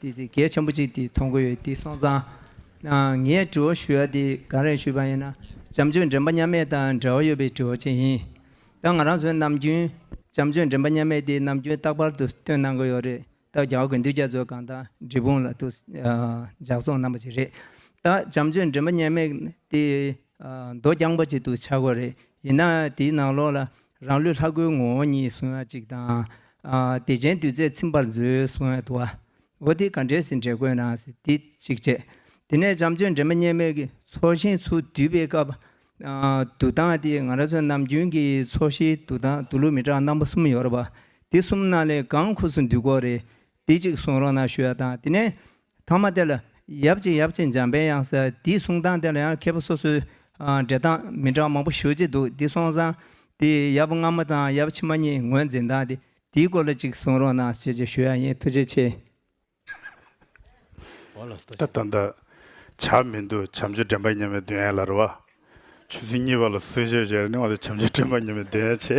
དེ་ཚེ་གལ་ཆེན་པོ་གཅིག་དེ་མཐོང་གི་ཡོད་དེ་སོང་ཙང། ངས་དྲི་བ་ཞུ་ཡ་དེ་གང་རེད་ཞུས་པ་ཡིན་ན་བྱམས་ཆོས་འདྲེན་པ་མཉམ་མེད་དང་འབྲེལ་བ་ཡོད་པའི་དྲི་བ་ཅིག་ཡིན། ད་ང་རང་ཚོའི་ནམ་རྒྱུན་བྱམས་ཆོས་འདྲེན་པ་མཉམ་མེད་དེ་ནམ་རྒྱུན་རྟག་པར་དུ་སྟོན་གནང་གི་ཡོད་རེད་ད་རྒྱ་བོ་དགེ་འདུན་རྒྱ་མཚོས་གང་དང་འབྲི་སྤུངས་ལ་དུ་ཇག་ཚོང་གནང་པ་ཅིག་རེད་ད་བྱམས་ཆོས་འདྲེན་པ་མཉམ་མེད་དེ་མདོ་རྐྱང་པ་ཅིག་དུ་ཆགས་གི་རེད་ཡིན་ན་དེའི་ནང་ལོགས་ལ་རང་ལུས་ལྷ་སྐུའི་ངོ་བོ་ཉིད་གཟུང་བ་གཅིག་དང། བདེ་ཆེན་བདུད་རྩས་ཚིམ་པར་མཛོད་གཟུང་བའི་དུ་བ། འོ་དེ་ག་འདྲའི་ཟིན་བྲལ་དགོས་ན་འདི་གཅིག་ཅེས། དེ་ནས་བྱམས་ཆོས་འདྲེན་མ་སྙེ་མའི་ཚོགས་ཞིང་ཚུར་བསྡུས་པའི་སྐབས། འདུག་སྟངས་དེ་ང་རང་ཚོ་ནམ་རྒྱུན་གྱི་ཚོགས་ཞིང་འདུག་སྟངས་འདུག་ལུགས་མི་གྲངས་སྣ་མོ་གསུམ་ཡོད་རེད་པ། དེ་གསུམ་རྣམས་ལས་གང་ཁུགས་སུ་འདུག་གོ་རེ་དེ་གཅིག་གསུང་རོགས་གནང་ཞུ་བ་དང་དེ་ནས་ཐང་མ་དེ་ལ་ཡབ་གཅིག་ཡབ་གཅིག་འཇམ་དཔལ་དབྱངས་ཟེར་དེའི་གསུང་སྟངས་དེ་ལ་ཡང་མཁས་པ་སོ་སོའི་འགྲེལ་སྟངས་མི་འདྲ་བ་མང་པོ་ཞུ་བྱེད་འདུག་དེ་སོང་ཙང་དེ་ཡབ་སྔ་མ་དང་ཡབ་ཕྱི་མ་གཉིས་ངོས་འཛིན་སྟངས་དེ་དེའི་སྐོར་ལ་གཅིག་གསུང་རོགས་གནང་ཞེས་ཞུ་ཡ་ཡིན་ཐུགས་རྗེ་ཆེ། ད་ད་འདི་བྱ་མི་འདུག་བྱམས་ཆོས་འདྲེན་པ་ཉམས་པའི་འདོད་ཡན་ལ་རེ་བ། ཆོས་ཚུལ་གཉིས་པ་ལ་བསོད་ཆོས་བྱས་ནས་འོང་ཟེར་བྱམས་ཆོས་འདྲེན་པ་ཉམས་པའི་འདོད་ཡན་ཆེ།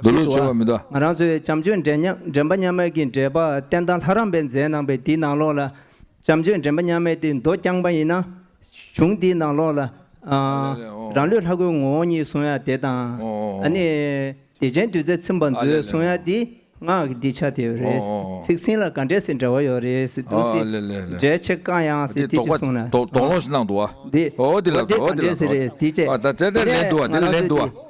མདོ་ལས་སྦྱོར་བ་མི་གདའ། ང་རང་ཚོའི་བྱམས་ཆོས་འདྲེན་པ་མཉམ་མེད་ཀྱི་འགྲེལ་པ་བསྟན་དང་ལྷ་རམས་པའི་མཛད་གནང་པའི་འདི་ནང་ལོགས་ལ། བྱམས་ཆོས་འདྲེན་པ་མཉམ་མེད་འདི་མདོ་རྐྱང་པ་ཡིན་ན། གཞུང་འདིའི་ནང་ལོགས་ལ། རང་ལུས་ལྷ་སྐུའི་ངོ་བོ་ཉིད་གསུང་ཡ་དེ་དང། ནི། བདེ་ཆེན་བདུད་རྩི་ཚིམ་པར་མཛོད་གསུང་ཡ་འདི། སྔགས་ཀྱི་འདི་ཆ་དེ་རེད། ཚིག་ཟིན་ལ་ག་འདྲེ་སི་འདྲ་བ་ཡོད་རེད་འདུག་སི། འདྲེ་ཆེ་ཀ་ཡང་སི་དེ་ཅིག་གསུང་ན། འདི། འོ་དེ་ག་འདྲེ་སི་རེད་དེ་ཅེ། ང་རང་ཚོ་དེ།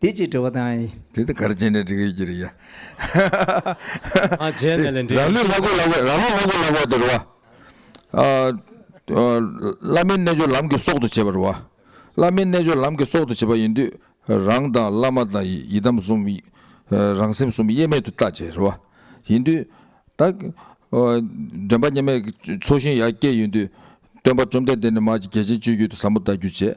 འདི་ཅི་འདྲི་བ་དང། དེ་ལྟར་གར་བྱེད་ནས་འདྲི་གི་ཀྱི་རེད། བྱས་ནས་ལས་འབྲས། རང་ལུས་ལྷ་སྐུ་ལ་བས་རང་ལུས་ལྷ་སྐུ་ལ་བས་དེ་རུ་བ། བླ་མའི་རྣལ་འབྱོར་ལམ་གྱི་སྲོག་ཏུ་བྱེད་པ་རུ་བ། བླ་མའི་རྣལ་འབྱོར་ལམ་གྱི་སྲོག་ཏུ་བྱེད་པ་ཡིན་དུས་རང་དང་བླ་མ་དང་ཡི་དམ་གསུམ། རང་སེམས་གསུམ་དབྱེར་མེད་དུ་བརྟག་བྱེད་རུ་བ། ཡིན་དུས་བདག། དྲན་པ་སྙེམས་མའི་ཚོགས་ཞིང་ཡར་སྐྱེད་ཡིན་དུས། སྟོན་པ་བཅོམ་ལྡན་འདས་ནི་མ་ཀྱི་རྒྱལ་ཆེན་སྤྱོད་རྒྱུད་དུ་ཟབ་མོ་བལྟ་རྒྱུ་བྱེད།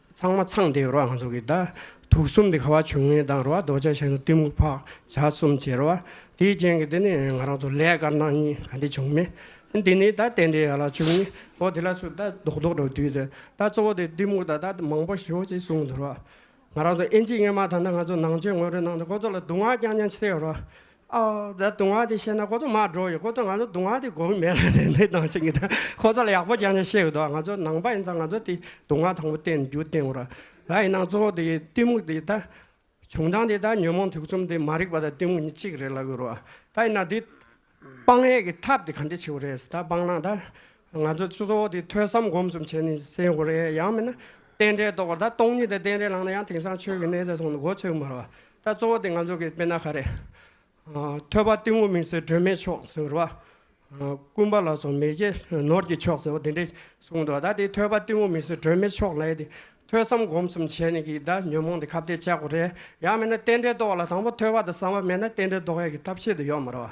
ཚང་མ་ཚང་དེ་རོ་ཨང་ཚོགས་ཀྱི་བདག། དུག་གསུམ་དེ་ཁ་བ་ཆུང་ངུའི་བདག་རོ་ཨ་རྡོ་རྗེ་གཤེན་རབ་གཏི་མུག་འཕགས་བྱ་གསུམ་བྱེད་རོ་ཨ། དེའི་རྐྱེན་གྱིས་དེ་ནི་ང་རང་ཚོ་ལས་དཀར་ནག་གཉིས་ག་འདི་བྱུང་མེད། འདི་ནི་བདག་རྟེན་འབྲེལ་ཡ་ལ་བཅུ་གཉིས་འོ་དེ་ལ་ཚུར་བདག་རྡོག་རྡོག་འགྲོ་དུས་དེ་བདག་གཙོ་བོ་དེ་གཏི་མུག་དང་བདག་མང་པོ་ཞོག་ཅིག་གསུང་འདུག་རོ་ཨ། ང་རང་ཚོ་ཨེན་ཅིག་ངེས་མ་ཐག་ན་ང་ཚོ་ནང་ཆོས་ངོ་སྤྲོད་གནང་སྟེ་ཁོ་ཚོ་ལ་སྡུག་བསྔལ་རྐྱང་རྐྱང་ཆེ་ཡོད་རོ་ཨ། ཨ། ད་དུང་བ་དེ་བཤད་ན་ཁོ་ཚོ་མར་འགྲོ་ཡི་ཁོ་ཚོ་ང་ཚོ་དུང་བ་དེ་གོ་གི་མེད་ར་དེ་འདི་དང་ཆིག་གི་དང་ཁོ་ཚོ་ལ་ཡག་པོ་སྦྱར་ནས་བཤད་གི་འདུག་ང་ཚོ་ནང་པ་ཡིན་ཙང་ང་ཚོ་དེ་དུང་བ་དང་པོ་བསྟན་རྒྱུ་བསྟན་དགོས་ར་ད་ཡིན་ནང་གཙོ་བོ་དེ་གཏི་མུག་དེ་ད་བྱུང་སྟངས་དེ་ད་ཉོན་མོངས་དུག་གསུམ་དེ་མ་རིག་པ་དང་གཏི་མུག་གཉིས་གཅིག་རེད་ལབ་གི་རོ་ད་ཡིན་ན་དེ་སྤང་ཡས་ཀྱི་ཐབས་དེ་ག་འདྲས་ཆེ་བོ་རེད་ད་སྤང་ན་ད་ང་ཚོས་གཙོ་བོ་དེ་ཐོས་བསམ་སྒོམ་གསུམ་བྱས་ནས་སེལ་དགོས་རེད་ཡང་མིན་ན། རྟེན་འབྲེལ་རྟོགས་པ་ད་སྟོང་ཉིད་དེ་རྟེན་འབྲེལ་ལངས་ན་ཡང་དེང་སང་ཆོས་ཀྱི་གནས་ཚད་མཐོང་ནས་མགོ་ཚོས་མ་རེད་བ། ད་གཙོ་བོ་དེ་ང་ཚོ་གི་དཔེར་ན་ག་རེ། ཐོས་པ་གཏི་མུག་མིང་སྲིང་སྒྲོན་མེ་མཆོག་ཟེར་བ། རྐུན་པ་ལ་སོགས་མེ་ལྕེ་ནོར་གྱི་མཆོག་ཟེར་བ་དེ་འདྲས་གསུངས་འདུག་ད་དེ་ཐོས་པ་གཏི་མུག་མིང་སྲིང་སྒྲོན་མེ་མཆོག་ལས་དེ། ཐོས་བསམ་སྒོམ་གསུམ་བྱས་ནས་ཀྱི་ད་ཉོན་མོངས་དེ་ཁ་བརྡའི་བཅག་གོ་རེད་ཡང་མིན་ན་རྟེན་འབྲེལ་རྟོགས་ལ་དང་པོ་ཐོས་པ་དང་བསམ་པ་མེད་ན་རྟེན་འབྲེལ་རྟོགས་ཡས་ཀྱི་ཐབས་ཤེས་དུ་ཡོད་མ་རེད་བ།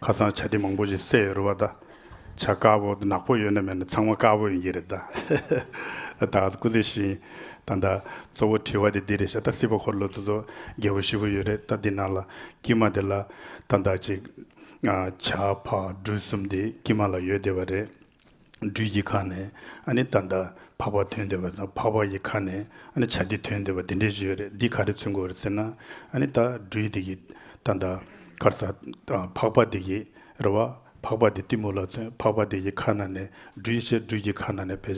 ཁ་སང་བྱ་དེ་མང་པོ་ཞིག་བསད་ཡོད་རེད་བ་ད། བྱ་དཀར་པོ་ནག་པོ་ཡོད་ན་མེད་ན་ཚང་མ་དཀར་པོ་ཡིན་གྱི་རེད་ད། ད་ག་ཚོད་སྐུ་ཚེ་ཞིང་དང་ད་གཙོ་བོ་དྲི་བ་དེ་འདི་རེད་ཤག་ད་སྲིད་པ་འཁོར་ལོ་རྫུ་བཟོ་རྒྱལ་པོ་བཞི་པོ་ཡོད་རེད་ད་འདི་ནང་ལ་དཀྱིལ་མ་དེ་ལ་ད་ད་ཅིག། བྱ་ཕག་སྦྲུལ་གསུམ་དེ་དཀྱིལ་མ་ལ་ཡོད་བསྡད་པ་རེད། སྦྲུལ་གྱི་ཁ་ནས་ཨ་ནི་ད་ལྟ་འཕགས་པ་ཐོན་འདོད་པ་དང་འཕགས་པ་ཡི་ཁ་ནས་ཨ་ནི་བྱ་འདི་ཐོན་འདོད་པ་འདི་འདྲའི་གཞུ་རེད་འདི་ག་རེ་ཚུན་དགོས་རེད་ཟེར་ན་ཨ་ནི་ད་སྦྲུལ་འདི་གི་ད་ལྟ་གར་ས་འཕགས་པ་འདི་གི་རེད་བ་འཕགས་པ་འདི་གཏི་མུག་ལ་མཚོན་འཕགས་པ་འདི་གི་ཁ་ན་ནས་སྦྲུལ་ཆེ་སྦྲུལ་གྱི་ཁ་ན་ནས་བལ་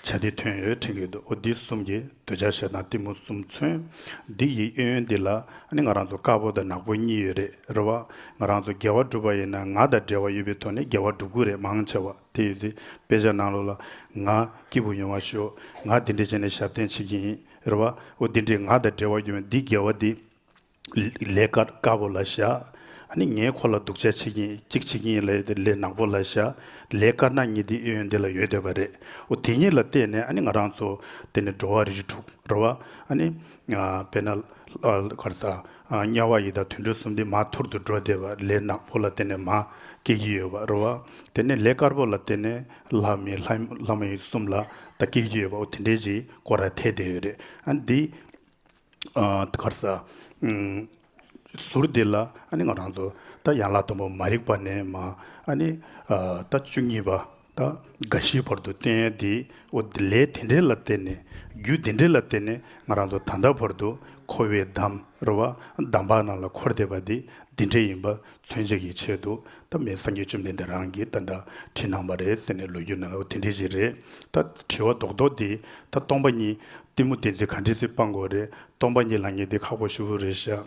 ཆེན་བྱ་འདི་ཐོན་ཡོད་ཁྲིམས་ཡོད་འདུག་ཨོ་འདི་གསུམ་གྱི་འདོད་ཆགས་ཞེ་སྡང་གཏི་མུག་གསུམ་མཚོན་འདི་ཡི་གཡོན་གཡོན་འདི་ལ་ཨ་ནི་ང་རང་ཚོ་དཀར་པོ་དང་ནག་པོ་གཉིས་ཡོད་རེད་རེད་བ་ང་རང་ཚོ་དགེ་བ་སྒྲུབ་པ་ཡིན་ན་ང་དང་འབྲེལ་བ་ཡོད་པའི་ཐོག་ནས་དགེ་བ་སྒྲུབ་དགོས་རེད་མང་ཆེ་བ་དེ་ཡོད་ཚེ་དཔེ་ཆ་ནང་ལོག་ལ་ང་སྐྱིད་པོ་ཡོང་བ་ཞུ་ང་དེ་འདྲས་བྱས་ནས་ཞབས་བརྟན་བྱེད་ཀྱི་ཡིན་རེད་བ་འོ་དེ་འདྲས་ང་དང་འབྲེལ་བ་ཡོད་མེད་འདི་དགེ་བ་འདི་ལས་དཀར་དཀར་པོ་ལ་བཞག་ཨ་ནི་ངས་ཁོ་ལ་སྡུག་ཆ་བྱེད་ཀྱིན་གཅིག་བྱེད་ཀྱིན་ཡིན་ལ་ཡོད་ལས་ནག་པོ་ལ་བཞག་ལས་དཀར་ནག་གཉིས་འདི་ཨེ་ཡོད་འདི་ལ་ཡོད་སྡོད་པ་རེད་འོ་དེ་གཉིས་ལ་བལྟས་ནས་ཨ་ནི་ང་རང་ཚོ་དེ་ནས་འགྲོ་བ་རིགས་དྲུག་རེད་བ་ཨ་ནི་དཔེར་ན་ལྷ་དཀར་ས། དམྱལ་བ་ཡི་དྭགས་དུད་འགྲོ་གསུམ་སྟེ་མ་ཐུར་དུ་འགྲོ་བདེ་བ་ལས་ནག་པོ་ལ་བརྟེན་ནས་མ་སྐྱེས་ཀྱི་ཡོད་པར་བ། དེ་ནས་ལས་དཀར་པོ་ལ་བརྟེན་ནས་ལྷ་མི་ལྷ་མ་ཡིན་གསུམ་ལ་ད་སྐྱེས་ཀྱི་ཡོད་པ་འོ་དེ་འདྲའི་གྱི་སྐོར་ར་ཐལ་དེ་ཡོད་རེད་འདི། གར་ས། ཟུར་འདི་ལ་ཨ་ནི་ང་རང་ཚོ་ད་ཡང་ལ་དང་པོ་མ་རིག་པ་ནས་མ་ཨ་ནི་ད་བཅུ་གཉིས་པ། དང། འགའ་ཞིག་བར་དུ་བསྟན་ཡོད་དེ། འོ་དེ་ལས་དེ་འདྲའི་ལ་བརྟེན་ནས། རྒྱུ་དེ་འདྲའི་ལ་བརྟེན་ནས་ང་རང་ཚོ་ད་ལྟ་བར་དུ་འཁོར་བའི་འདམ་ར་བ་འདམ་བག་ནང་ལ་འཁོར་བསྡད་པ་དེ་འདི་འདྲ་ཡིན་པ་མཚོན་བྱེད་ཀྱི་ཆེད་དུ་ད་མི་སངས་རྒྱས་བཅོམ་ལྡན་འདས་རང་གིས་ད་ལྟ་བྲིས་གནང་བ་རེད་ཟེར་ནས་ལོས་རྒྱུ་ན་འོ་དེ་འདྲའི་ཞིག་རེད་ད། དྲི་བ་རྡོག་རྡོག་འདི་ད་སྟོང་པ་གཉིས་གཏི་མུག་བདེན་ཚིག་ག་འདྲི་སྲིད་སྤང་གོ་རེད་སྟོང་པ་གཉིས་ལ་ངེས་དེ་ཁག་པོ་ཞུ་བོ་རེད་ཤག།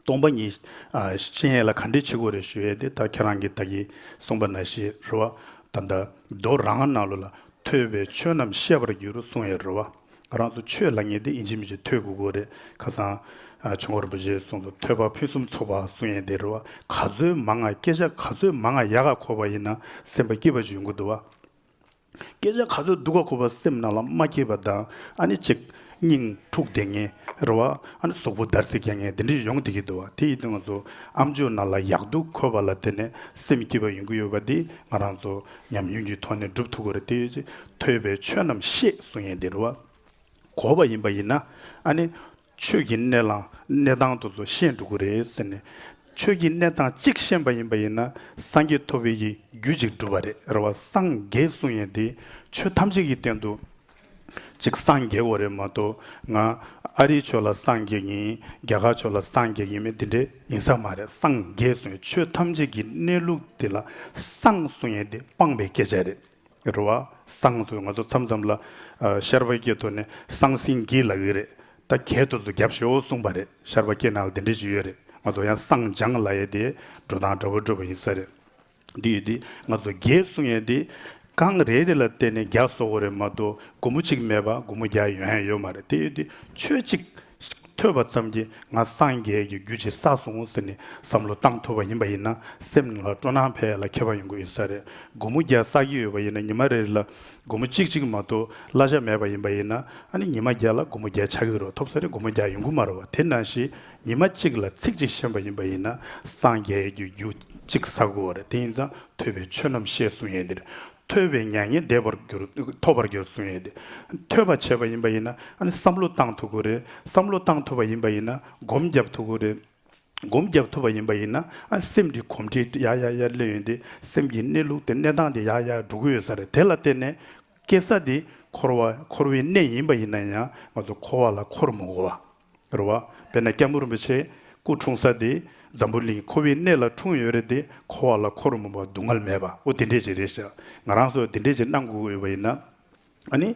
སྟོང་པ་ཉིད། གཤེན་ཡས་ལ་ག་འདྲས་བྱེད་དགོས་རེ་ཞུས་ཏེ་ད་ཁྱེད་རང་གིས་བདག་གིས་གསུངས་པ་ན་ཤི་རེ་བ་དང་དང་རྡོར་རང་རང་ནང་ལོ་ལ་ཐོས་པའི་ཆོས་རྣམས་བཤད་པར་འགྱུར་རོ་གསུངས་ཡས་རེ་བ། རང་ཚོ་ཆོས་ལ་ངེས་ཏེ་ཡིན་གཅིག་མིན་གཅིག་ཐོས་དགོས་དགོས་རེ་ཁ་བསང། བྱུང་བ་རིན་པོ་ཆེ་གསུངས་སོ་ཐོས་པ་ཕུན་སུམ་ཚོགས་པ་གསུངས་ཡས་དེ་རེ་བ་ག་ཚོད་མང་ང་སྐད་ཆ་ག་ཚོད་མང་ང་ཡ་ག་འཁོར་བ་ཡིན་ན་སེམས་པ་སྐྱིད་པ་ཅིག་ཡོང་གི་འདུག་བ། སྐད་ཆ་ག་ཚོད་སྡུག་ག་ཁུ་བ་སེམས་ནང་ལ་མ་སྐྱེས་པ་དང་ཨ་ནི་གཅིག། སྙིང། འཁྲུག་བསྡད་ངེས་རེད་བ། ཨ་ནི་ཟོག་པོ་བརྡར་ཟེར་མཁན་ངས་དེ་འདྲས་ཡོང་བསྡད་ཀྱི་འདུག་བ་དེ་ཡི་དུས་ང་ཚོ་ཨ་མཆོག་ནང་ལ་ཡག་སྡུག་འཁོར་བ་ལ་དེ་ནས་སེམས་སྐྱིད་པ་ཡོང་གི་ཡོད་བ་འདི་ང་རང་ཚོ་ཉམས་མྱོང་གྱི་ཐོག་ནས་སྒྲུབ་ཐུབ་དགོས་རེད་དེ། ཐོས་པའི་ཆོས་རྣམས་ཤེས་གསུང་ཡས་འདི་རུ་བ། གོ་བ་ཡིན་པ་ཡིན་ན་ཨ་ནི། ཆོས་ཀྱི་གནས་ལ་གནས་སྟངས་དུ་ཚོ་ཤེས་འགྲོ་དགོས་རེད་ཟེར་ནས་ཆོས་ཀྱི་གནས་སྟངས་གཅིག་ཤེས་པ་ཡིན་པ་ཡིན་ན་སངས་རྒྱས་ཐོབ་བས་ཀྱི་རྒྱུ་གཅིག་འགྲུབ་པ་རེད་རེད་བ་སངས་རྒྱས་གསུང་ཡིན་དེ་ཆོས་ཐམས་ཅད་ཀྱི་སྟེང་དུ་གཅིག་སངས་རྒྱས་འོ་རེད་མ་གཏོགས་ང་ཨ་རིའི་ཆོས་ལ་སངས་རྒྱས་ཡིན་རྒྱ་གར་ཆོས་ལ་སངས་རྒྱས་ཡིན་མིན་དེ་འདྲ་ཡིན་ས་མ་རེད་སངས་རྒྱས་གསུང་ཡིན་ཆོས་ཐམས་ཅད་ཀྱི་གནས་ལུགས་དེ་ལ་སངས་གསུང་ཡིན་དེ་སྤངས་པའི་སྐད་ཆ་རེད། རུ་བ་སངས་སུ་ང་ཚོ་མཚམས་མཚམས་ལ་ཤར་བ་སྐྱེ་དོ་ནི་སངས་སིང་སྐྱིད་ལགས་ཡིན་རེད་ད་གལ་དུ་ཚོ་རྒྱབ་ཤོ་གསུངས་པ་རེད་ཤར་བ་སྐྱེ་ནའང་དེ་འདྲའི་ཇུས་ཡོད་རེད་ང་ཚོ་ཡང་སངས་ལྗང་ལ་ཡེ་དེ་འགྲོ་སྟངས་འདྲ་བོ་བགྲོད་པ་ཡིན་ས་རེད་འདི་ཡོད་དེ་ང་ཚོ་རྒྱའི་གསུང་ཡན་དེ་གངས་རེ་རེ་ལ་བལྟས་ནས་རྒྱ་བཟོ་གོ་རེད་མ་གཏོགས་སྒོ་མོ་གཅིག་མེད་པ་སྒོ་མོ་བརྒྱ་ཡོད་ཡང་ཡོད་མ་རེད་དེ་ཡོད་དེ་ཆོས་གཅིག། ཐོས་པ་ཙམ་གྱིས་ང་སངས་རྒྱས་ཀྱི་རྒྱུད་ཇི་ས་སོང་ཟེར་ནས་བསམ་བློ་བཏང་ཐུབ་པ་ཡིན་པ་ཡིན་ན་སེམས་ལ་སྤྲོ་སྣང་ཕལ་ལ་ཁྱད་པར་ཡོང་གི་ཡོད་ས་རེད་སྒོར་མོ་བརྒྱ་བསགས་ཀྱི་ཡོད་པ་ཡིན་ན་ཉི་མ་རེར་ལ་སྒོར་མོ་གཅིག་གཅིག་མ་གཏོགས་གླ་ཆ་མེད་པ་ཡིན་པ་ཡིན་ན་ཨ་ནི་ཉི་མ་བརྒྱ་ལ་སྒོར་མོ་བརྒྱ་ཆགས་ཀྱི་རོགས་ཐོབ་ས་རེད་སྒོར་མོ་བརྒྱ་ཡོང་གི་མ་རེད་བ་དེ་ན་ཞིག་ཉི་མ་གཅིག་ལ་ཚིག་གཅིག་ཤེས་པ་ཡིན་པ་ཡིན་ན་སངས་རྒྱས་ཀྱི་རྒྱུད་གཅིག་ཟ་དགོས་བ་རེད་དེ་ཡིན་ཙང་ཐོས་པའི་ཆོས་རྣམས་ཤེས་གསུངས་ཡས་འདིར་ཐོས་པའི་མྱ་ངན་འདས་པར་འགྱུར། ཐོབ་པར་འགྱུར་གསུང་ཡོད་དེ། ཐོས་པར་བྱེད་པ་ཡིན་པ་ཡིན་ན། བསམ་བློ་བཏང་ཐུབ་དགོས་རེད། བསམ་བློ་བཏང་ཐུབ་པ་ཡིན་པ་ཡིན་ན། སྒོམ་བརྒྱབ་ཐུབ་དགོས་རེད། སྒོམ་བརྒྱབ་ཐུབ་པ་ཡིན་པ་ཡིན་ན། སེམས་ཀྱི་གོམས་འདྲིས་ཡག་ཡག་ཡག་སླེབས་ཡོད་དེ། སེམས་ཀྱི་གནས་ལུགས་དེ་གནས་སྟངས་དེ་ཡག་ཡག་འགྲོ་གི་ཡོད་ས་རེད། དེ་ལ་བརྟེན་ནས། སྐྱེ་ས་དེ། འཁོར་བ་འཁོར་བའི་གནས་ཡིན་པ་ཡིན་ན་ཡང། ང་ཚོ་འཁོར་བ་ལ་འཁོར་མི་དགོས་པ། རུ་བ། དཔེར་ན་སྐྱ་མོ་རིན་པོ་ཆེ་སྐུ་འཁྲུངས་ས་དེ་འཛམ་བུ་གླིང་ཁོ་བོའི་གནས་ལ་འཁྲུངས་ཡོད་རེད་དེ་ཁོ་བ་ལ་ཁོ་རུ་མོ་བ་སྡུག་བསྔལ་མེད་པ་འོ་དེ་འདྲས་ཅིག་རེད་ཤག་ང་རང་སོགས་དེ་འདྲས་ཅིག་གནང་དགོས་འོས་པ་ཡིན་ན་ནི།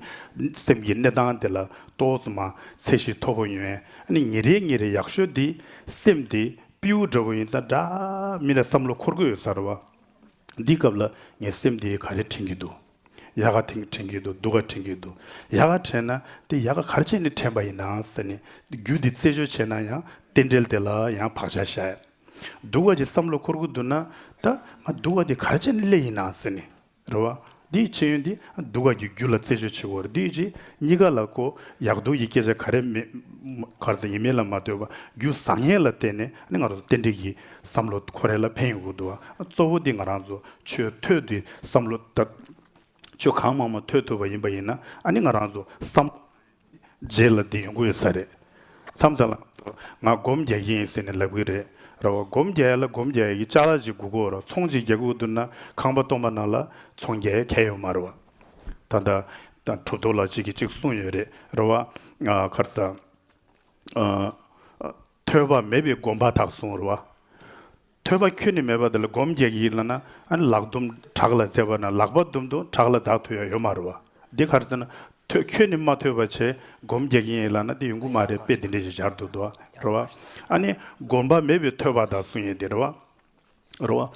སེམས་ཀྱི་གནས་སྟངས་དེ་ལ་ལྟོས་སོང་མ་ཚད་གཞི་མཐོ་པོ་ཡོན་ནི་ཉིན་རེ་ཉིན་རེ་ཡག་ཤོས་དེ་སེམས་དེ་པེའུ་འདྲ་བོ་ཡིན་ས་འདྲ་མིན་ལ་བསམ་བློ་འཁོར་དགོས་ཡོད་ས་རུ་བ། འདིའི་སྐབས་ལ་ངའི་སེམས་དེ་ག་རེ་དྲན་གྱི་འདུག། ཡ་ག་དེང་དྲན་གྱི་འདུག་སྡུག་ག་དྲན་གྱི་འདུག་ཡ་ག་དྲན་ན་དེ་ཡ་ག་གར་བྱས་ནས་དྲན་པ་ཡིན་ན་ཟེར་ནས་རྒྱུ་དེ་རྩད་གཅོད་བྱས་ན་ཡང་རྟེན་འབྲེལ་དེ་ལ་ཡང་བག་ཆགས་བཞག་ཡ་འདུག་བ་ཅིག་བསམ་བློ་འཁོར་གི་འདུག་ན་ད་ང་འདུག་བ་དེ་གར་བྱས་ནས་སླེ་ཡིན་ན་ཟེར་ནས་རེ་བ་དེའི་ཕྱི་ཡོན་དེ་འདུག་ག་གི་རྒྱུ་ལ་རྩད་གཅོད་བྱེད་དགོས་རེ་དེའི་རྗེས་གཉིས་ཀ་ལ་གོ་ཡག་འདུག་ཡི་སྐད་ཆ་ག་རེ་མེད་གར་ཟེར་ཡིན་མིན་ལ་མ་ལྟོས་པ་རྒྱུ་བཟང་ངན་ལ་བལྟས་ནས་ང་རང་ཚོ་རྟེན་འབྲེལ་གྱི་བསམ་བློ་འཁོར་རེ་ལ་ཕན་ཡོད་དགོས་འདུག་བ་གཙོ་བོ་དེ་ང་རང་ཚོ་ཆོས་ཐོས་དེ་བསམ་བློ་གཏོད། ཆོས་གང་མང་མང་ཐོས་ཐུབ་པ་ཡིན་པ་ཡིན་ན་ཨ་ནི་ང་རང་ཚོ་བསམ་བློ་བརྗེ་ལ་འདི་ཡོང་གི་ཡོད་ས་རེད། མཚམས་མཚམས་ལ་ང་ཚོ་ང་སྒོམ་རྒྱག་གི་ཡིན་ཟེར་ནས་ལབ་གི་རེད། ར་བ་སྒོམ་རྒྱག་ཡ་ལ་སྒོམ་རྒྱག་ཡ་གི་ལྕགས་ལ་ཅིག་སྒུག་གོ་ར་ཚོང་ཅིག་རྒྱག་གི་འོ་དུ་ན་ཁང་པ་སྟོང་པ་ན་ལ་ཚོང་རྒྱག་ཡ་ཁས་ཡོད་མ་རེད་བ། ད་ལྟ་གྲུབ་ཐོབ་ལ་ཅིག་གིས་ཅིག་གསུངས་ཡོད་རེད་ར་བ། ཁར་ས། ཐོས་པ་མེད་པའི་སྒོམ་པ་དག་གསུང་རོགས། ཐོས་པ་ཁྱོད་ནི་མེད་པ་འདི་ལ་སྒོམ་རྒྱག་གི་ཡིན་ལ་ན་ཨཱ་ལགས་དུམ་བྲག་ལ་རྩེ་བ་ན་ལག་པ་དུམ་དུམ་བྲག་ལ་འཛག་ཐུ་ཡ་ཡོད་མ་རོ་བ་འདི་གར་རྩེ་ན་ཐོས་ཁྱོད་ནི་མ་ཐོས་པ་བྱས་སྒོམ་རྒྱག་གི་ཡིན་ལ་ན་འདི་ཡོང་གི་མ་རེད་དཔེ་འདི་འདྲས་ཞིག་སྦྱར་འདུག་དོ་རོ་བ། ཨཱ་ནི་སྒོམ་པ་མེད་པའི་ཐོས་པ་དག་གསུང་ཡིན་འདི་རོ་བ། རོ།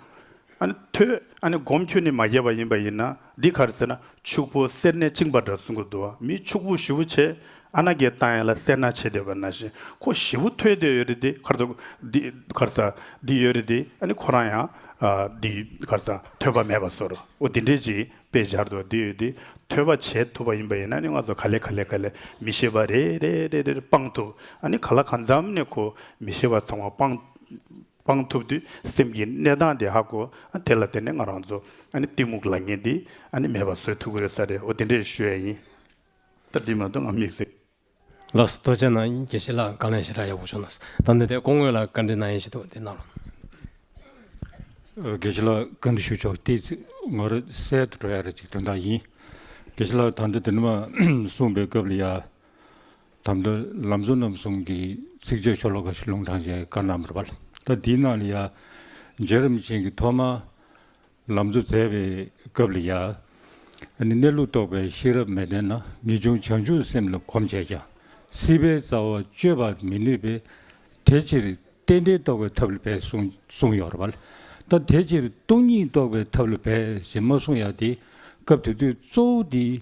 ཨ་ནི་ཐོས། ཨ་ནི་སྒོམ་ཁྱོད་ནི་མ་རྒྱས་པ་ཡིན་པ་ཡིན་ན་འདི་གར་ཟེར་ན་ཕྱུག་པོ་སེར་སྣས་བཅིངས་པ་འདྲ་གསུང་གི་འདུག་མི་ཕྱུག་པོ་བཞི་བོ་ཆེ་ཨ་ན་གའི་ཏང་ཡན་ལ་སེར་སྣ་བྱེད་བསྡད་པ་ན་བཞིན་ཁོ་བཞི་བོ་ཐོས་དེ་ཡོད་རེད་དེ་གར་ཟ་འདི་གར་ཟ་འདི་ཡོད་རེད་དེ་ཨ་ནི་ཁོ་རང་ཡང་འདི་གར་ཟ་ཐོས་པ་མེད་པ་བཟོ་རོ་ཨོ་འདི་འདྲས་ཅིག་དཔེ་སྦྱར་དུ་འདི་ཡོད་དེ་ཐོས་པ་བྱེད་ཐུབ་པ་ཡིན་པ་ཡིན་ན་ཨ་ནི་ང་ཚོ་ག་ལེ་ག་ལེ་ག་ལེ་མི་ཤེས་པ་རེ་རེ་རེ་རེ་སྤང་ཐུབ་ཨ་ནི་ག་ལ་ག་འཚམ་ནས་ཁོ་མི་ཤེས་པ་ཚང་མ་སྤང། སྤང་ཐུབ་དུས་སེམས་ཀྱི་གནས་སྟངས་དེ་ཧ་གོ། དེ་ལ་དེ་ནས་ང་རང་ཚོ་གཏི་མུག་ལ་ངན་དེ་མེད་པ་བཟོས་ཐུབ་ཀྱི་རེད་ས་རེད་འོ་དེ་འདྲས་ཞུ་ཡ་ཡིན། ད་འདི་མ་གཏོགས་ང་མི་ཟེར། ལགས་སོ་རྡོ་ཆེན་ན་དགེ་བཤེས་ལགས་དགའ་ལན་ཞེ་དྲག་ཡག་པོ་བྱུང་ནས་ད་འདི་ལྟའི་སྐོང་དངོས་ལ་བཀའ་འདྲི་གནང་ཡས་ཞིག་འདུག་དེ་གནང་རོགས། དགེ་བཤེས་ལགས་བཀའ་འདྲི་ཞུ་ཆོག་དེ་ང་རོ་གསལ་དུ་འགྲོ་ཡ་རེད་ཅིག་དོན་དག་ཡིན། དགེ་བཤེས་ལགས་ད་འདི་དེ་འདྲ་མ་གསུངས་པའི་སྐབས་ལ་ཡ། དམ་དུ་ལམ་གཟུ་རྣམ་གསུམ་གྱི་ཚིགས་བཅད་ཤོ་ལོ་ཀ་ཞེས་ལུང་དྲངས་བྱས་བཀའ་རྣམ་པར་བ། ད་དེའི་ནང་ལ་ཡ། རྗེ་རིམ་བྱོན་གྱིས་ཐོག་མར་ལམ་གཟུ་མཛད་པའི་སྐབས་ལ་ཡ། ནི་གནས་ལུགས་རྟོགས་པའི་ཤེས་རབ་མི་ལྡན་ན་ངེས་འབྱུང་བྱང་ཆུབ་སེམས་ལ་གོམས་བྱས་ཀྱང་སྲིད་པའི་རྩ་བ་གཅོད་པར་མི་ནུས་པས་དེ་ཕྱིར་རྟེན་འབྲེལ་རྟོགས་པའི་ཐབས་ལ་འབད་གསུངས་ཡོད་པ། ད་དེ་ཕྱིར་སྟོང་ཉིད་རྟོགས་པའི་ཐབས་ལ་འབད་ཞེས་མ་གསུངས་ཡ་དེ་སྐབས་དེ་དུས་གཙོ་བོ་དེའི་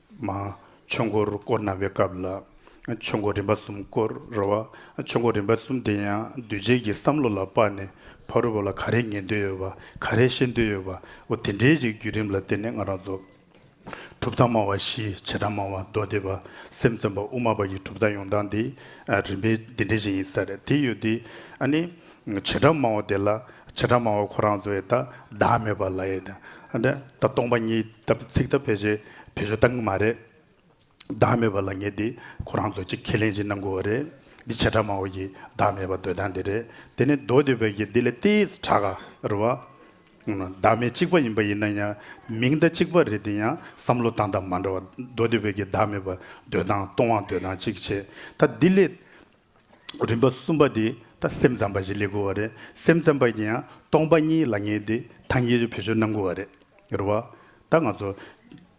མ། ཆོས་འཁོར་བསྐོར་གནང་བའི་སྐབས་ལ། ཆོས་འཁོར་རིམ་པ་གསུམ་བསྐོར་རོལ་བ། ཆོས་འཁོར་རིམ་པ་གསུམ་དེ་ཡང་འདུས་བྱས་ཀྱི་བསམ་བློ་ལ་དཔག་ནས་ཕ་རོལ་པོ་ལ་ག་རེ་ངེས་འདོད་ཡོད་པ་ག་རེ་ཤེས་འདོད་ཡོད་པའོ་དེ་འདྲའི་རིགས་བརྒྱུད་རིམ་ལ་བརྟེན་ནས་ང་རང་ཚོ། གྲུབ་མཐའ་སྨྲ་བ་བཞི་བྱེ་བྲག་སྨྲ་བ་མདོ་སྡེ་པ་སེམས་བཙོན་པ་དབུ་མ་པ་ཡི་གྲུབ་མཐའ་ཡོང་སྟངས་འདི་རིམ་པས་འདི་འདྲ་ཞིག་ཡིན་ས་རེད་དེ་ཡོད་དུས་ཨ་ནི། བྱེ་བྲག་སྨྲ་བ་དེ་ལ་བྱེ་བྲག་སྨྲ་བ་ཁོ་རང་ཚོ་ཡེ་ད་བདག་མེད་པ་ལ་ཡེ་ད་སྟོང་པ་ཉིད། སྐབས་དེ་ཚིག་ཐག་བོད་ཆས་བེད་སྤྱོད་བཏང་གི་མ་རེད། བདག་མེད་པ་ལ་ངེས་འདི་ཁོ་རང་ཚོས་ཅིག་ཁས་ལེན་བྱེད་གནང་དགོས་བ་རེད། འདི་བྱེ་བྲག་མང་བོ་ཡི་བདག་མེད་པ་འདོད་སྟངས་འདི་རེད། དེ་ནི་མདོ་སྡེ་བོད་ཀྱི་འདི་ལས་ཏིས་བྲག་ག་རུ་བ། བདག་མེད་གཅིག་པ་ཡིན་པ་ཡིན་ན་ཡང་མིང་བརྡ་གཅིག་པ་རེད་འདི་ཡང་བསམ་བློ་བཏང་སྟངས་མ་འདྲ་བ་མདོ་སྡེ་བོད་ཀྱི་བདག་མེད་པ་འདོད་སྟངས་སྟོང་བ་འདོད་སྟངས་གཅིག་བྱེད་ད་འདི་ལས། རིམ་པ་གསུམ་པ་འདི་ད་སེམས་ཙམ་པ་ཞིག་ལས་དགོས་བ་རེད་སེམས་ཙམ་པ་ཡིན་ཡང་སྟོང་པ་གཉིས་ལ་ངེས་ཏེ་ཐ་ངེས་ཀྱི་བེད་སྤྱོད་གནང་དགོས་བ་རེད་རེད་བ། ད་ང་ཚོ་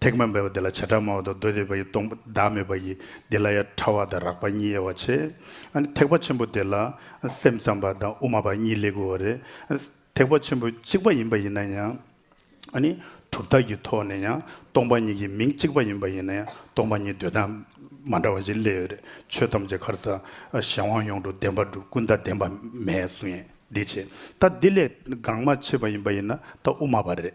ཐེག་པ་འབད་པ་འདི་ལ་བྱེ་བྲག་སྨྲ་བ་དང་མདོ་སྡེ་པ་ཡི་སྟོང་པ་བདག་མེད་པ་ཡི་འདི་ལ་ཡང་ཕྲ་བ་དང་རགས་པ་གཉིས་ཡོད་བ་ཆེ། ཐེག་པ་ཆེན་པོ་འདི་ལ་སེམས་ཙམ་པ་དང་དབུ་མ་པ་གཉིས་ལས་དགོས་བ་རེད། ཐེག་པ་ཆེན་པོ་གཅིག་པ་ཡིན་པ་ཡིན་ན་ཡང། གྲུབ་མཐའ་གྱི་ཐོག་ནས་ཡང་སྟོང་པ་ཉིད་ཀྱི་མིང་གཅིག་པ་ཡིན་པ་ཡིན་ན་ཡང་སྟོང་པ་ཉིད་འདོད་སྟངས་མ་འདྲ་བ་ཞིག་སླེབས་ཡོད་རེད། ཆོས་ཐམས་ཅད་གར་ཟག་གཞན་དབང་ཡོངས་གྲུབ་བདེན་པ་འགྲུབ་ཀུན་བརྟགས་བདེན་པ་མེད་གསུང་ཡན་འདི་བྱེད། ད་འདི་ལས་འགངས་མ་ཆེ་བ་ཡིན་པ་ཡིན་ན་ད་དབུ་མ་པ་རེད།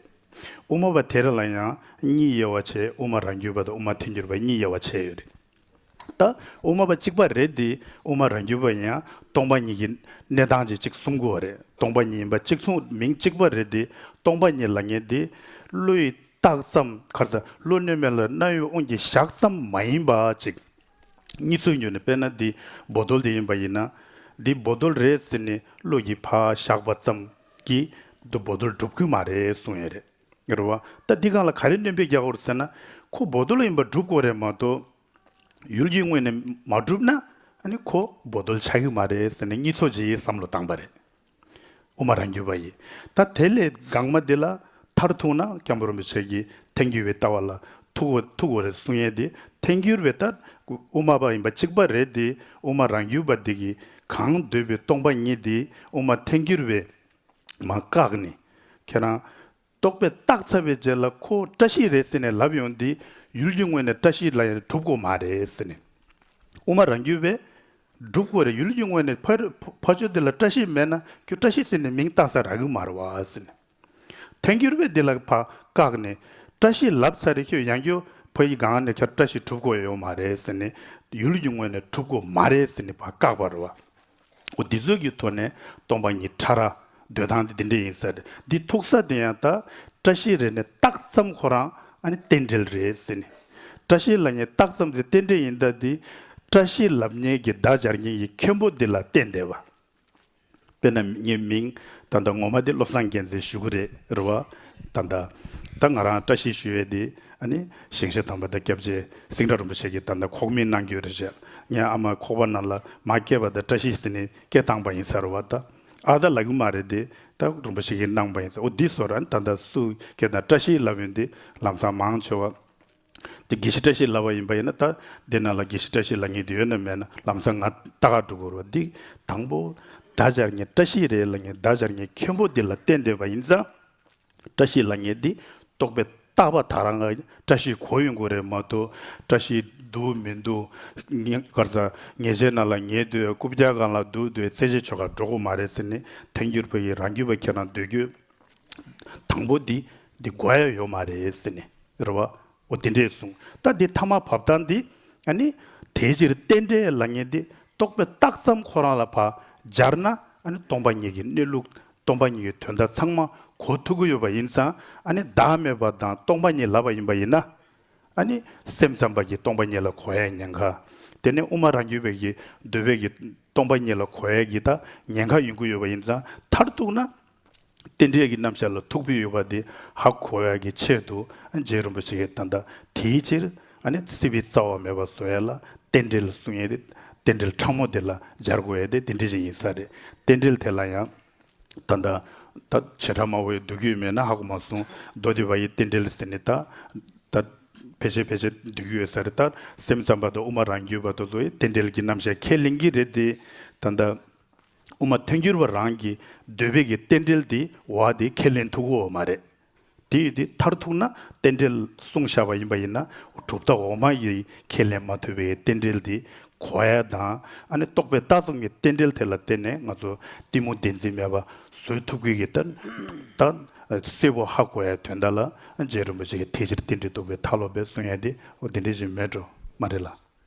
དབུ་མ་པ་དེ་རེ་ལ་ཡང་གཉིས་དབྱེ་བ་བྱས་དབུ་མ་རང་རྒྱུད་པ་དང་དབུ་མ་ཐལ་འགྱུར་པ་གཉིས་དབྱེ་བ་བྱས་ཡོད་རེད། ད་དབུ་མ་པ་གཅིག་པ་རེད་འདི་དབུ་མ་རང་རྒྱུད་པ་ཡིན་ཡང་སྟོང་པ་ཉིད་ཀྱི་གནས་སྟངས་ཀྱི་གཅིག་གསུང་དགོས་བ་རེད་སྟོང་པ་ཉིད་ཡིན་པ་གཅིག་མཚུངས་མིང་གཅིག་པ་རེད་འདི་སྟོང་པ་ཉིད་ལ་ངེས་འདི་ཀླུ་ཡི་རྟགས་ཙམ་ཁར་ཟ་ཀླུ་སྣོད་མེད་ལ་རྣ་བའི་དབུང་གི་ཞག་ཙམ་མ་ཡིན་པ་གཅིག། གཉིས་ཚུལ་ཉོན་ནི་དཔེར་ན་འདི་སྦོ་རྡོལ་དེ་ཡིན་པ་ཡིན་ན་འདི་སྦོ་རྡོལ་རེད་ཟེར་ནས་ཀླུ་ཡི་ཕ་ཞག་པ་ཙམ་གྱིས་འདི་སྦོ་རྡོལ་སྒྲུབ་ཁུལ་མ་རེད་གསུང་ཡས་རེད། རེད་བ། ད་འདི་གང་ལ་ག་རེ་བསྣོན་ཕེབས་རྒྱག་འོར་ཟེར་ན། ཁོ་བོ་རྡོལ་ཡིན་པ་སྒྲུབ་དགོས་རེད་མ་གཏོགས། ཡུལ་གྱི་དངོས་ནས་མ་སྒྲུབ་ན། ནི་ཁོ་བོ་རྡོལ་ཆགས་ཀྱི་མ་རེད་ཟེར་ནས་གཉིས་ཚོགས་ཀྱི་བསམ་བློ་བཏང་པ་རེད། དབུ་མ་རང་རྒྱུད་པ་ཡི། ད་དེ་ལས་འགངས་མ་འདི་ལ་མཐར་ཐུག་ན་སྐྱབས་འགྲོ་མི་བྱེད་ཀྱི་ཐལ་འགྱུར་བའི་ལྟ་བ་ལ་ཐུག་འོ་རེད་གསུང་ཡས་དེ་ཐལ་འགྱུར་བའི་ལྟ་དབུ་མ་པ་ཡིན་པ་གཅིག་པ་རེད་དེ་དབུ་མ་རང་རྒྱུད་པ་འདི་གིས་གང་འདོད་པའི་སྟོང་པ་ཉིད་དེ་དབུ་མ་ཐལ་འགྱུར་བའི་མ་བཀག་ནས། ཁྱེད་རང། རྟོག་པས་བཏགས་ཚར་བའི་རྗེས་ལ་ཁོ་བཀྲ་ཤིས་རེད་ཟེར་ནས་ལབ་ཡོང་དེ། ཡུལ་གྱི་དངོས་ནས་བཀྲ་ཤིས་ལ་ཡང་གྲུབ་གོ་མ་རེད་ཟེར་ནས། དབུ་མ་རང་རྒྱུད་པས། གྲུབ་གོ་རེད་ཡུལ་གྱི་དངོས་ནས་ཕ་ཆོས་འདི་ལ་བཀྲ་ཤིས་མེད་ན་ཁྱོད་བཀྲ་ཤིས་ཟེར་ནས་མིང་བཏགས་ས་ར་གི་མ་ར་བ་ཟེར་ནས། ཐལ་འགྱུར་བས་འདི་ལ་བ་བཀག་ནས། བཀྲ་ཤིས་ལབ་ཚར་རེད་ཁྱོད་ཡང་ཁྱོད་ཕ་ཡི་སྒང་ནས་ཁྱར་བཀྲ་ཤིས་གྲུབ་གོ་ཡོད་མ་རེད་ཟེར་ནས། ཡུལ་གྱི་དངོས་ནས་གྲུབ་གོ་མ་རེད་ཟེར་ནས་བ་བཀག་པ་ར་བ། འོ་འདི་ཚོད་ཀྱི་ཐོག་ནས་སྟོང་པ་ཉིད་ཕྲ་རགས་འདོད་སྟངས་དེ་འདི་འདྲ་ཡིན་ཟེར། འདི་ཐུག་ས་དེ་ཡང་ད་བཀྲ་ཤིས་རེད་ནས་ཏག་ཙམ་ཁོ་རང་ཨ་ནི་རྟེན་འབྲེལ་རེད་ཟེར་ནས། བཀྲ་ཤིས་ལ་ཉེ་རྟག་ཙམ་དེ་རྟེན་འབྲེལ་ཡིན་ད་འདི་བཀྲ་ཤིས་ལབ་ཉེས་ཀྱི་བརྡ་སྦྱར་མཁན་གྱི་མཁན་པོ་འདི་ལ་བལྟས་བསྡད་པ། དཔེར་ན་ངའི་མིང་ད་ད་ངོ་མ་དེ་བློ་བཟང་རྒྱལ་མཚན་ཞུ་གི་རེད་རེད་བ། ད་ད་ད་ང་རང་བཀྲ་ཤིས་ཞུ་ཡས་དེ་ཞིང་བཤེར་དམ་པ་དང་སྐྱབས་རྗེ་སེང་སྒྲ་རིན་པོ་ཆེ་ཀྱིས་ད་ལྟ་ཁོག་མིན་གནང་རྒྱུ་རེད་བཤད། ངས་ཨ་མ་ཁོག་པ་ནང་ལ་མ་སྐྱེས་པ་དང་བཀྲ་ཤིས་ཟེར་ནས་སྐད་བཏང་པ་ཡིན་ཟེར་བ་ད་ཨ་ད་ལག་གི་མ་རེད་དེ་ད་རིན་པོ་ཆེ་ཀྱིས་གནང་པ་ཡིན་ཟེར་འོ་འདི་ཟོ་རན་ད་ད་སུ་སྐད་དང་བཀྲ་ཤིས་ལབ་ཡོད་འདི་ལམ་སང་མང་ཆེ་བ་དེ་དགེ་བཤེས་བཀྲ་ཤིས་ལབ་པ་ཡིན་པ་ཡིན་ན་ད་འདི་ནང་ལ་དགེ་བཤེས་བཀྲ་ཤིས་ལ་ངེས་དེ་ཡོད་ན་མེད་ན་ལམ་སང་ང་ད་ག་འགྲོ་དགོས་རེད་བ་འདི་དང་པོ་ད་ཅར་ངས་བཀྲ་ཤིས་རེད་ལ་ངས་ད་ཅར་ངས་མཁན་པོ་འདི་ལ་བསྟན་འདོད་པ་ཡིན་ཙང། བཀྲ་ཤིས་ལ་ཉེ་འདི་རྟོགས་པའི་རྟག་པ་དག་རང་ག་བཀྲ་ཤིས་གོ་ཡོད་མགོ་རེད་མ་འདུག་བཀྲ་ཤིས་འདུག་མི་འདུག་གར་རྩ་ཉེས་ཅན་རྣམས་ལ་ཉེས་འདོད་རྐུབ་བཀྱག་གང་ལ་འདུག་འདོད་རྩེ་གཅིག་ཆོལ་ཁ་འགྲོ་དགོས་མ་རེད་ཟེར་ནི་ཐེངས་རྒྱུར་བོད་ཡིག་རང་རྒྱུད་པ་ཁྱེད་རང་འདོད་རྒྱུ་དང་པོ་འདི་འདི་གོ་ཡ་ཡོད་མ་རེད་ཟེར་ནི་རེད་བ། འོ་དེ་འདྲས་གསུངས་ད་འདི་ཐ་མ་བབས་སྟངས་འདི་ཨ་ནི། དེའི་ཕྱིར་རྟེན་འབྲེལ་ལ་ངེས་འདི་རྟོགས་པའི་རྟགས་ཙམ་ཁོ་རང་ལ་བ་སྦྱར་ན་ཨ་ནི་སྟོང་པ་ཉིད་ཀྱི་གནས་ལུགས་སྟོང་པ་ཉིད་ཀྱི་དོན་དག་ཚང་མ་གོ་ཐུབ་ཀྱི་ཡོད་པ་ཡིན་ཙང་ཨ་ནི་བདག་མེད་པ་དང་སྟོང་པ་ཉིད་ལབ་པ་ཡིན་པ་ཡིན་ན་ཨ་ནི་སེམས་ཙམ་པ་ཀྱིས་སྟོང་པ་ཉིད་ལ་གོ་ཡའི་ཉེན་ཁ་དེ་ནི་དབུ་མ་རང་རྒྱུད་བོད་ཀྱི་འདོད་བོད་ཀྱི་སྟོང་པ་ཉིད་ལ་གོ་ཡའི་གི་དག་ཉེན་ཁ་ཡོང་གི་ཡོད་པ་ཡིན་ཙང་མཐར་གཏུགས་ན། རྟེན་འབྲེལ་གྱི་རྣམ་བཞག་ལ་ཐུག་པའི་ཡུལ་བ་དེ་ཧ་གོ་བ་ཀྱི་ཆེད་དུ་རྗེ་རིན་པོ་ཆེའི་དོན་དང་དེའི་ཕྱིར་སྲིད་པའི་རྩ་བ་མེད་པར་བཟོ་ཡ་ལ་རྟེན་འབྲེལ་གསུང་ཡས་དེ་རྟེན་འབྲེལ་ཕྲ་མོ་དེ་ལ་སྦྱར་དགོས་ཡས་དེ་འདི་འདྲི་བཞིན་ཡིན་ས་རེད་རྟེན་འབྲེལ་དེ་ལ་ཡང་ད་ད་ད་བྱེ་བྲག་མང་བོའི་འདུལ་རྒྱུད་མེད་ན་ཧ་གོ་མ་གསུང་མདོ་སྡེ་བ་ཡི་རྟེན་འབྲེལ་ཟེར་ནི་ད་ད་ཕལ་ཆེར་ཕལ་ཆེར་འདུལ་རྒྱུ་ཡོད་ས་རེད་ད་སེམས་ཙམ་པ་དང་དབུ་མ་རང་རྒྱུད་པ་དུ་ཚོ་ཡི་རྟེན་འབྲེལ་གྱི་རྣམ་བཞག་ཁས་ལེན་གྱི་རེད་དེ་ད་ད། དབུ་མ་མཐུན་འགྱུར་བ་རང་གི་འདོད་དཔེ་གི་རྟེན་འབྲེལ་དེ་བ་དེ་ཁས་ལེན་ཐུག་གོ་མ་རེད། དེ་ཡིན་དེ་མཐར་ཐུག་ན་རྟེན་འབྲེལ་གསུང་བཞག་པ་ཡིན་པ་ཡིན་ན་གྲུབ་མཐའ་འོག་མ་ཡི་ཁས་ལེན་མ་ཐུབ་པའི་རྟེན་འབྲེལ་དེ་གོ་ཨེ་དང་ཨ་ནི་རྟོགས་པའི་ལྟ་ཚུལ་ངི་རྟེན་འབྲེལ་དེ་ལ་བརྟེན་ནས་ང་ཚོ་གཏི་མུག་བདེན་འཛིན་མེད་པ་བཟོད་ཐུབ་གི་གི་ད་གསལ་བོ་ཧ་གོ་ཨེ་དོན་དག་ལ་རྗེ་རིན་པོ་ཆེ་གི་ཐེག་ཆེར་རྟེན་འབྲེལ་རྟོགས་པའི་མཐའ་ལོག་པའི་གསུང་ཡན་དེ་བོ་དེ་འདྲ་ཞིག་མེད་འགྲོ་མ་རེད་ལ།